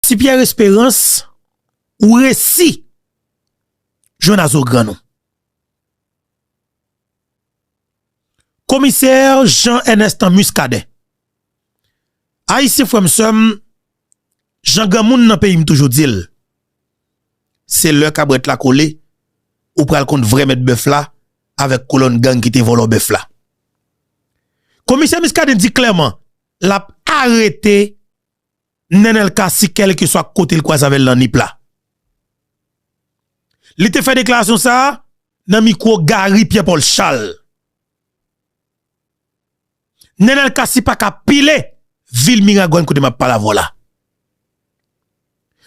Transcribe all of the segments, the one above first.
Ti pierre esperance ou resi jwenn a zo grann ou. Komiser Jean Ernestan Muscadin. Ayisyen frèm sèm, jan gran moun nan peyim toujou dil, se lè kabrèt la kole, ou pral konn vrè mèt bèf la, avèk kolonn gang ki te vòlò bèf la. Komiser Muscadin di klèman, lap arete. Nenel Cassy kèlkeswa kote l kwaze avè l nan Nip la. Li te fè deklarasyon sa a nan mikwo Garry Pierre Paul Charles. Nenel Cassy pa ka pile vil Miragwàn kote m ap pale avè w la.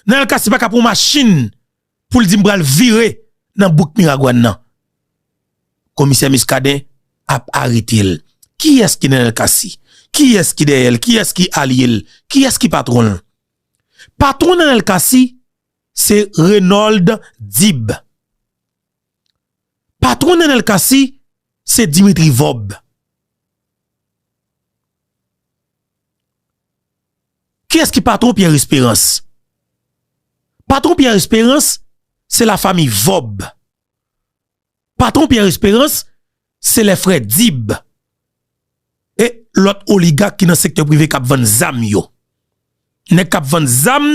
Nenel Cassy pa ka pran yon machin poul di m pral vire nan bouk miragwan nan komisè miskaden ap aretel kiyès ki nenel cassy kiyès ki dèyèl kiyès ki alyel kiyès ki patronl patron nenel cassy se renold dib patron nenel cassy se dimitri vob. Kiyès ki patron Pierre Esperance? Patron Pierre Esperance se la fami Vob. Patron Pierre Esperance se lè frè Dib. E lòt oligak ki nan sektè prive kap vann zam yo. Nèk kap vann zam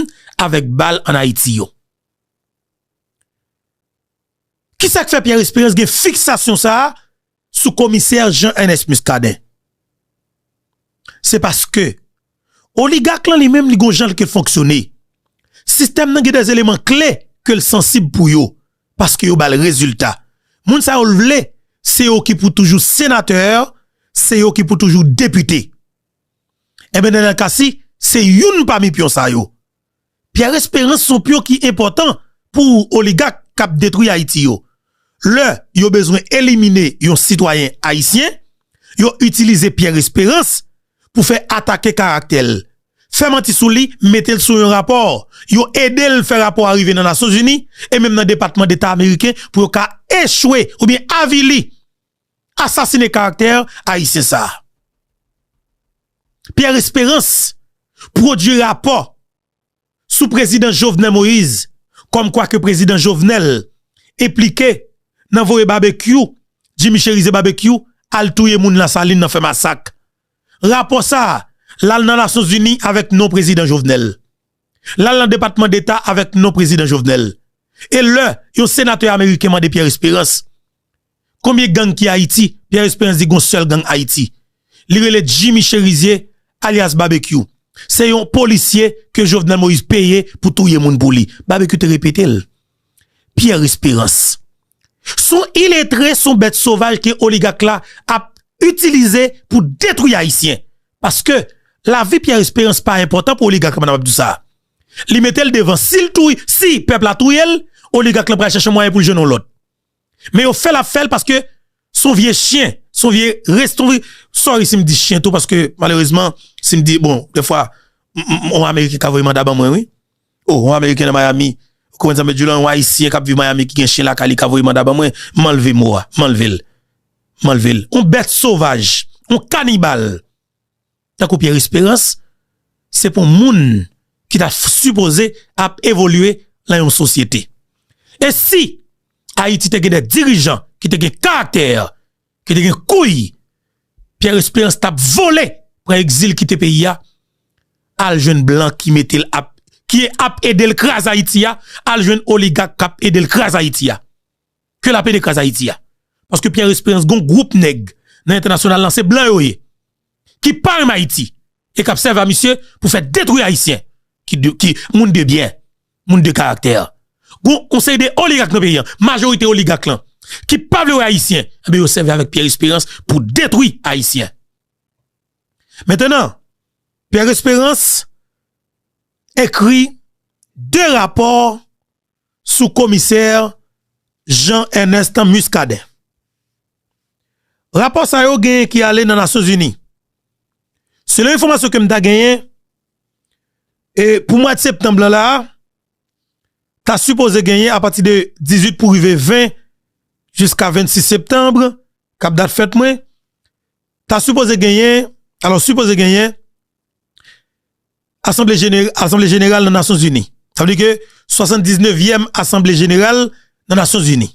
avèk bal an Ayiti yo. Kisak fè Pierre Esperance gen fiksasyon sa sou komisè Jean Ernest Muscadin se paske oligak lan li menm li gon jan li ke fonksyone sistèm nan gen dè eleman kle ke l sansib pou yo paske yo bal rezilta moun sa yo l vle se yo ki pou toujou senatè se yo ki pou toujou depite enben Daniel Cassy se youn pami pyon sa yo. Pierre esperance son pion ki enpòtan pou oligak kap detwi ayiti yo lè yo bezwen elimine yon sitwayen ayisyen yo itilize Pierre esperance pou fè atake karaktèl fè manti souli metel sou yon rapò yo edel fè rapò a rive nan nasyonzini e menm nan depatman deta ameriken pou yo ka echwe oubyen avili asasine karaktè ayisyen sa a. Pierre Esperance pwodui rapò sou prezidan Jovenel Moïse kòm kwa ke prezidan Jovenel enplike nan voye Babekyou, Jimmy Cherize Babekyou, al touye moun Lasalin nan fè masak. Rapò sa a, l al nan Nasyonzini avèk non prezidan Jovenel. L al nan Depatman Deta avèk non prezidan Jovenel. E lè yon senatè ameriken mande Pierre Esperance, Konbyen gang ki Ayiti? Pierre Esperance di gon sèl gang Ayiti. Li rele Jimmy Cherizier alyas Babekyou. Se yon polisye ke Jovenel Moïse peye pou touye moun pou li. Babekyou te repete l. Pierre Esperance. Son iletre, son bèt sovaj ke oligak la ap itilize pou detwi Ayisyen. Paske lavi Pierre Esperance pa enpòtan pou oligak la, madan map di w sa. Li mete l devan. Si pèp la touye l, oligak la pral chache mwayen pou l jwenn yon lòt. Men yo fèl ap fèl paske son vye chyen, son vye restouvri, sorry si m di chyen tou paske malerezman si m di bon defwa yon ameriken ka voye manda ban mwen wi, oh yon ameriken nan Miami ou konprann sa m vle di w la, yon ayisyen kap viv Miami ki gen chyen lakay li ka voye manda ban mwen, m anlve mo a, m anlve l, m anlve l, yon bèt sovaj, yon kanibal tankou Pierre Esperance, se pou moun ki ta sipoze ap evolye nan yon sosyete. E si Ayiti te gen de dirijan ki te gen karaktè, ki te gen kouy, Pierre Esperance t ap vole pran egzil kite peyi a, al jwenn blan ki mete l ap, ki ap ede l kraze Ayiti a, al jwenn oligak k ap ede l kraze Ayiti a. ke la pede kras ayiti a paske pierre esperans gon group nèg nan entènasyonal lan se blan yo ye ki pa renmen ayiti e kap sèvi a misye pou fè detwi ayisyen ki de ki moun de byen moun de karaktè gon yon seri de oligak nan peyi an majorite oligak lan ki pa vle wè ayisyen ebe yo sèvi avèk pierre esperans pou detwi ayisyen mentenan pierre esperans ekri 2 rapò sou komisè Jean Ernest Muscadin. Rapò sa yo genyen ki ale nan Nasyon Zini. Selon enfòmasyon ke m ta genyen, e pou mwad septanm lan la a, ta sipoze genyen a pati de 18 pou rive 20, jiska 26 septanm, kap dat fèt mwen, ta sipoze genyen, alò sipoze genyen, Asanble Jeneral nan Nasyon Zini. Sa vle di ke 79 nevyèm Asanble Jeneral nan Nasyon Zini.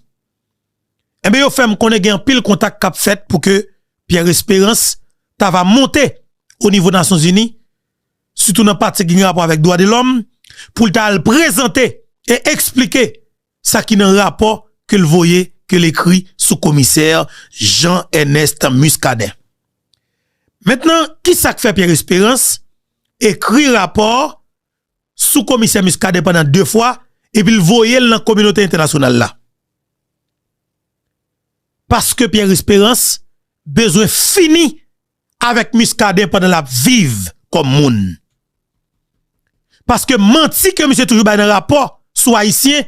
Enben yo fè m konnen gen anpil kontak k ap fèt pou ke Pierre Esperance ta va monte o nivo Nasyon Zini, sitou nan pati ki gen rapò avèk dwa de lòm, pou l ta al prezante e eksplike Sa ki nan rapò ke l voye, ke l ekri sou komisè Jean Ernest Muscadin. Mentnan, ki sa k fè Pierre Espérance ekri rapò sou komisè Muscadin pandan 2 fwa, epi l voye l nan kominote entènasyonal la? Paske Pierre Espérance bezwen fini avèk Muscadin pandan lap viv kòm moun. Paske manti ke misye toujou bay nan rapò sou ayisyen,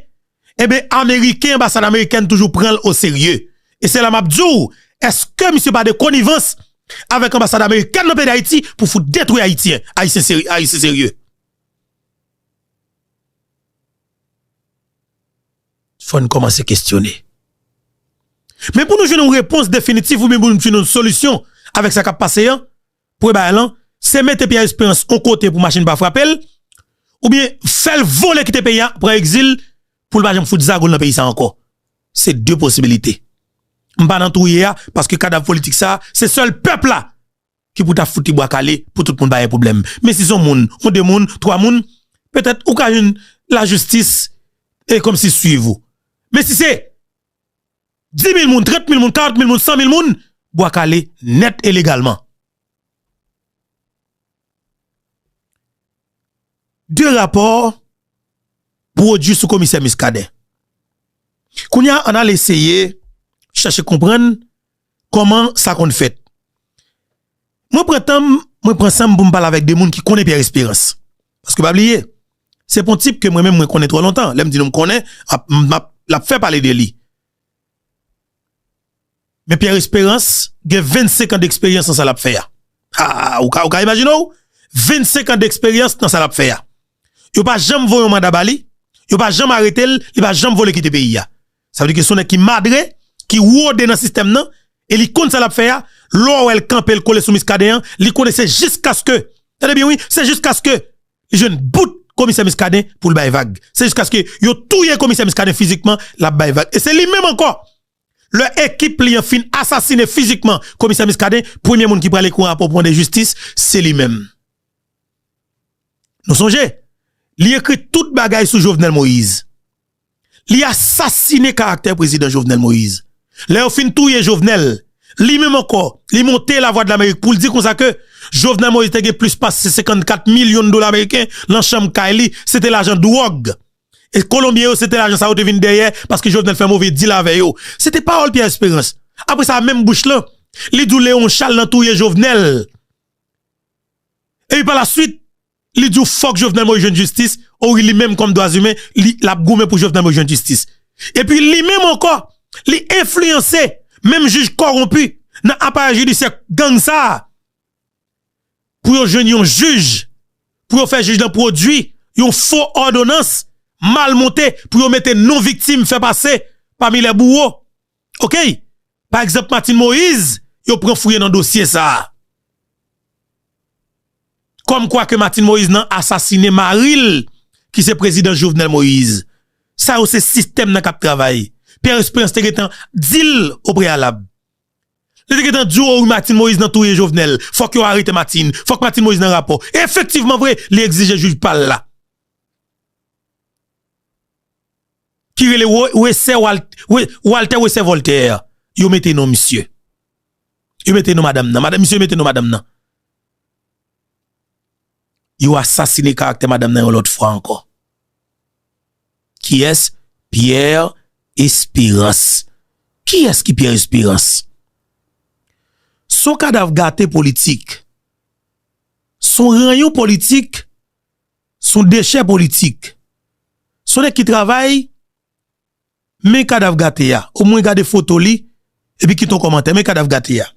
enben ameriken anbasad amerikèn toujou pranl o serye. E se la map diw, eske misye pa de konivans avèk anbasad amerikèn nan peyi dayiti pou fout detwi ayityen, ayisyen serye. fò n kòmanse kesyone. Men pou nou jwenn yon repons definitif oubyen pou nou jwenn yon solisyon avèk sa k ap pase an, premye bagay lan, se mete Pierre Espérance yon kote pou machin pa frape l, oubyen fè l vole kite peyi a, pran egzil pou l pa janm fout zago l nan peyi sa a ankò. Se de posibilite. M pa nan twouye a paske kadav politik sa a, se sèl pèp la ki pou ta fout li bwa kale pou tout moun pa gen pwoblèm. Men si son moun, on de moun, twa moun, petèt ou ka jwenn lajistis e kòm si swiv ou. Men si se dimil moun, trantmil moun, karantmil moun, sanmil moun, bwa kale nèt e legalman. De rapò pwodui sou komisè Miskaden. Kounye a, an n al eseye chache konprann Kòman sa konn fèt? Mwen pran tan m, mwen pran san m pou m pale avèk 2 moun ki konnen Pierre Espérance. Paske pa bliye, se pou yon tip ke mwen menm mwen konnen twò lontan. Lè m di nou m konnen, m ap, l ap fè pale de li. Men Pierre Espérance gen 25 an deksperyans nan sa l ap fè a. Haa, ou ka, ou ka imajine w? 25 an deksperyans nan sa l ap fè a. Yo pa janm voye yon manda ba li, yo pa janm arete l, li pa janm vole kite peyi a. Sa vle di ke se yon nèg ki madre, ki rode nan sistèm nan, e li konn sa l ap fè a, lè w wè l kanpe l kole sou Miskaden an, li konnen se jiskaske, tande byen wi, se jiskaske li jwenn bout komisè Miskaden pou l bay vag. Se jiskaske yo touye komisè Miskaden fizikman l ap bay vag. E se li menm ankò, lè ekip li an fin asasine fizikman komisè Miskaden, premye moun ki pral ekri yon rapò pou mande jistis, se li menm. Nou sonje, li ekri tout bagay sou Jovenel Moïse. Li asasine karaktè prezidan Jovenel Moïse. Lè yo fin touye Jovenel, li menm ankò, li monte Lavwadlamerik pou l di konsa ke Jovenel Moïse te gen plis pase 54 milyon dola meriken nan chanm kay li, se te lajan dwòg. E Kolonbyen yo, se te lajan sa yo te vin dèyè paske Jovenel fè move dil avè yo. Se te pawòl Pierre Espérance. Apre sa, menm bouch lan, li di w Léon Charles nan touye Jovenel. Epi pa la suit, li di w fòk Jovenel Moïse jwenn jistis, o wi li menm kòm dwazimen li l ap goumen pou Jovenel Moïse jwenn jistis. Epi li menm ankò li enfliyanse menm jij kòwonpi nan aparèy jidisyè gang sa a pou yo jwenn yon jij, pou yo fè jij lan pwodui yon fo òdonans mal monte pou yo mete non viktim fè pase pami lè bouwo. ok pa egzanp Martine Moïse yo pran fouye nan dosye sa kòm kwa ke Martine Moïse nan asasine maril ki se prezidan Jovenel Moïse sa yo se sistèm nan kap travay Pierre Esperance te gentan dil o preyalab li te gentan diw o wi Martine Moïse nan touye Jovenel fòk yo arete Martine fòk Martine Moïse nan rapò efektivman vre li egzije jij pal la. ki rele wesè waltè wesè vòltè yo mete non misye yo mete non madam nan misye mete non madam nan yo asasine karaktè madam nan yon lòt fwa ankò kiyès pierre espérance kiyès ki pierre espérance son kadav gate politik son ranyon politik Son dechè politik. Son nèg ki travay men kadav gate a o mwen gade foto li epi kite yon kòmantè men kadav gate a.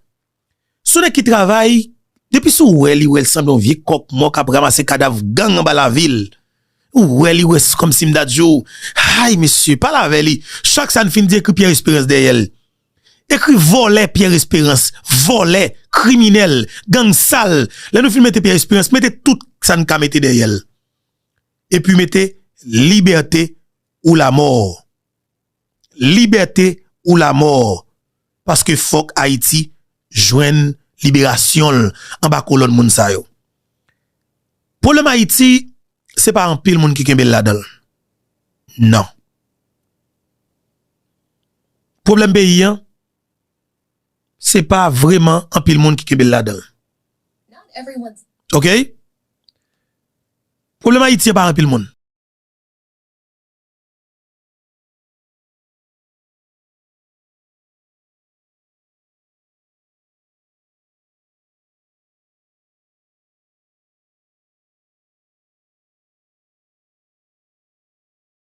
Son nèg ki travay depi si w wè li wè l sanble yon vye kòk mò kap ramase kadav gang anba lavi l ou wè li wè se kòmsi m ta di w hay mesye pale avè li chak sa n fin di ekri Pierre Espérance dèyè l. Ekri vòlè pierre esperans vòlè kriminèl gang sal lè nou fin mete pierre esperans mete tout sa nou ka mete dèyèl epi mete libète ou lamò libète ou lamò paske fòk ayiti jwenn liberasyonl anba kolòn moun sa yo pwoblèm ayiti se pa anpil moun ki kenbel ladanl nan. Pwoblèm peyi an, se pa vreman anpil moun ki kenbe l ladan l. Ok? Pwoblèm Ayiti an pa anpil moun.